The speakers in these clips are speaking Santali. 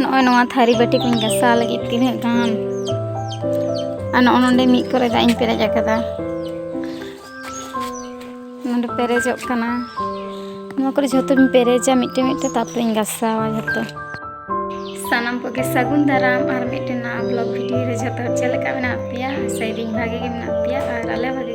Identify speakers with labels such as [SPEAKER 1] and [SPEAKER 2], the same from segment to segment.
[SPEAKER 1] ᱱᱚᱜᱼᱚᱭ ᱱᱚᱣᱟ ᱛᱷᱟᱹᱨᱤ ᱵᱟᱹᱴᱤ ᱠᱚᱧ ᱜᱟᱥᱟᱣ ᱞᱟᱹᱜᱤᱫ ᱛᱤᱱᱟᱹᱜ ᱜᱟᱱ ᱟᱨ ᱱᱚᱜᱼᱚ ᱱᱚᱰᱮ ᱢᱤᱫ ᱠᱚᱨᱮ ᱫᱟᱜ ᱤᱧ ᱯᱮᱨᱮᱡ ᱟᱠᱟᱫᱟ ᱱᱚᱰᱮ ᱯᱮᱨᱮᱡᱚᱜ ᱠᱟᱱᱟ ᱱᱚᱣᱟ ᱠᱚᱨᱮ ᱡᱷᱚᱛᱚᱧ ᱯᱮᱨᱮᱡᱟ ᱢᱤᱫᱴᱮᱱ ᱢᱤᱫᱴᱮᱱ ᱛᱟᱨᱯᱚᱨᱮᱧ ᱜᱟᱥᱟᱣᱟ ᱡᱷᱚᱛᱚ ᱥᱟᱱᱟᱢ ᱠᱚᱜᱮ ᱥᱟᱹᱜᱩᱱ ᱫᱟᱨᱟᱢ ᱟᱨ ᱢᱤᱫᱴᱮᱱ ᱱᱟᱣᱟ ᱵᱞᱚᱜ ᱵᱷᱤᱰᱤᱭᱳ ᱨᱮ ᱡᱷᱚᱛᱚ ᱪᱮᱫ ᱞᱮᱠᱟ ᱢᱮᱱᱟᱜ ᱯᱮᱭᱟ ᱥᱮᱫᱤᱧ ᱵᱷᱟᱜᱮ ᱜᱮ ᱢᱮᱱᱟᱜ ᱯᱮᱭᱟ ᱟᱨ ᱟᱞᱮ ᱵᱷᱟᱜᱮ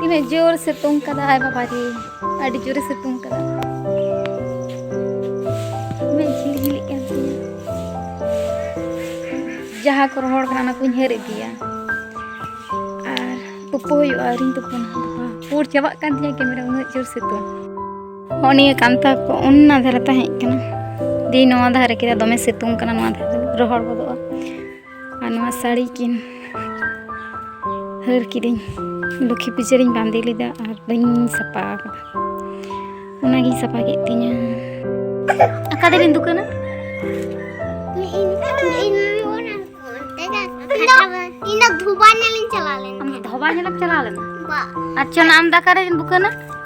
[SPEAKER 1] ᱛᱤᱱᱟᱹᱜ ᱡᱳᱨ ᱥᱤᱛᱩᱝ ᱠᱟᱫᱟ ᱟᱭ ᱵᱟᱵᱟ ᱨᱮ ᱟᱹᱰᱤ ᱡᱳᱨᱮ ᱥᱤᱛᱩᱝ ᱠᱟᱫᱟ ᱢᱮᱫ ᱡᱷᱤᱞ ᱡᱷᱤᱞᱤᱜ ᱠᱟᱱ ᱛᱤᱧᱟ ᱡᱟᱦᱟᱸ ᱠᱚ ᱨᱚᱦᱚᱲ ᱠᱟᱱᱟ ᱚᱱᱟ ᱠᱚᱧ ᱦᱟᱹᱨ ᱤᱫᱤᱭᱟ ᱟᱨ ᱛᱩᱯᱩ ᱦᱩᱭᱩᱜᱼᱟ ᱟᱹᱣᱨᱤᱧ ᱛᱩᱯᱩᱱᱟ ᱵᱟᱵᱟ ᱯᱩᱨ ᱪᱟᱵᱟᱜ ᱠᱟᱱ ᱛᱤᱧᱟ ᱠᱮᱢᱮᱨᱟ ᱩᱱᱟᱹᱜ ᱡᱳᱨ ᱥᱤᱛᱩᱝ ᱦᱚᱸ ᱱᱤᱭᱟᱹ ᱠᱟᱱᱛᱷᱟ ᱠᱚ ᱚᱱᱟ ᱫᱷᱟᱨᱮ ᱛᱟᱦᱮᱸ ᱠᱟᱱᱟ ᱫᱤ ᱱᱚᱣᱟ ᱫᱷᱟᱨᱮ ᱠᱮᱫᱟ ᱫᱚᱢᱮ ᱥᱤᱛᱩᱝ ᱠᱟᱱᱟ ᱱᱚᱣᱟ ᱫᱷᱟᱨᱮ ᱨᱚᱦᱚᱲ ᱜᱚᱫᱚᱜᱼᱟ ᱟᱨ ᱱᱚᱣᱟ ᱥᱟᱹᱲᱤ ᱠᱤᱱ ᱦᱟᱹᱨ ᱠᱤᱫᱟᱹᱧ ᱞᱚᱠᱠᱷᱤ ᱯᱩᱡᱟᱹ ᱨᱤᱧ ᱵᱟᱸᱫᱮ ᱞᱮᱫᱟ ᱟᱨ ᱵᱟᱹᱧ ᱥᱟᱯᱟ ᱟᱠᱟᱫᱟ ᱚᱱᱟᱜᱤᱧ ᱥᱟᱯᱟ ᱠᱮᱫ ᱛᱤᱧᱟ ᱟᱠᱟ ᱫᱮᱞᱤᱧ ᱫᱩᱠᱟᱹᱱᱟ ᱤᱧ ᱫᱚ ᱫᱷᱚᱵᱟ ᱧᱮᱞᱤᱧ ᱪᱟᱞᱟᱣ ᱞᱮᱱᱟ ᱟᱢ ᱫᱷᱚᱵᱟ ᱧᱮᱞᱮᱢ ᱪᱟᱞᱟᱣ ᱞᱮᱱᱟ ᱟᱪᱪᱷᱟ ᱟᱢ ᱫᱟᱠᱟᱨᱮ ᱫᱩᱠᱟᱹᱱᱟ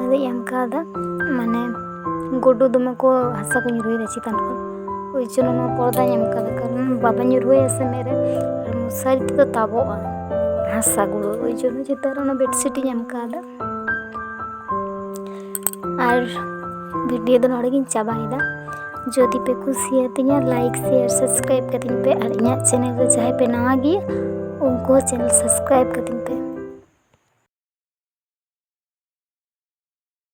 [SPEAKER 1] ᱟᱫᱚᱧ ᱮᱢ ᱠᱟᱣᱫᱟ ᱢᱟᱱᱮ ᱜᱩᱰᱩ ᱫᱚᱢᱮ ᱠᱚ ᱦᱟᱥᱟ ᱠᱚ ᱧᱩᱨᱩᱭᱮᱫᱟ ᱪᱮᱛᱟᱱ ᱠᱷᱚᱱ ᱳᱭ ᱡᱚᱱᱱᱚ ᱱᱚᱣᱟ ᱯᱚᱨᱫᱟᱧ ᱮᱢ ᱠᱟᱫᱟ ᱠᱟᱨᱚᱱ ᱵᱟᱵᱟ ᱧᱩᱨᱩᱭᱟ ᱥᱮ ᱢᱮᱫ ᱨᱮ ᱟᱨ ᱢᱚᱥᱟᱨᱤ ᱛᱮᱫᱚ ᱛᱟᱵᱚᱜᱼᱟ ᱦᱟᱥᱟ ᱜᱩᱰᱩ ᱳᱭ ᱡᱚᱱᱱᱚ ᱪᱮᱛᱟᱱ ᱨᱮ ᱚᱱᱟ ᱵᱮᱰᱥᱤᱴ ᱤᱧ ᱮᱢ ᱠᱟᱣᱫᱟ ᱟᱨ ᱵᱷᱤᱰᱤᱭᱳ ᱫᱚ ᱱᱚᱰᱮ ᱜᱤᱧ ᱪᱟᱵᱟᱭᱮᱫᱟ ᱡᱩᱫᱤ ᱯᱮ ᱠᱩᱥᱤᱭᱟᱛᱤᱧᱟ ᱞᱟᱭᱤᱠ ᱥᱮᱭᱟᱨ ᱥᱟᱵᱥᱠᱨᱟᱭᱤᱵ ᱠᱟᱛᱤᱧ ᱯᱮ ᱟᱨ ᱤᱧᱟᱹᱜ ᱪᱮᱱᱮᱞ ᱨᱮ ᱡᱟᱦᱟᱸᱭ ᱯᱮ ᱱᱟᱣᱟ ᱜᱮᱭᱟ ᱩᱱᱠᱩ ᱦᱚᱸ ᱪᱮᱱᱮᱞ ᱥᱟᱵᱥᱠᱨᱟᱭᱤᱵ ᱠᱟᱛᱤᱧ ᱯᱮ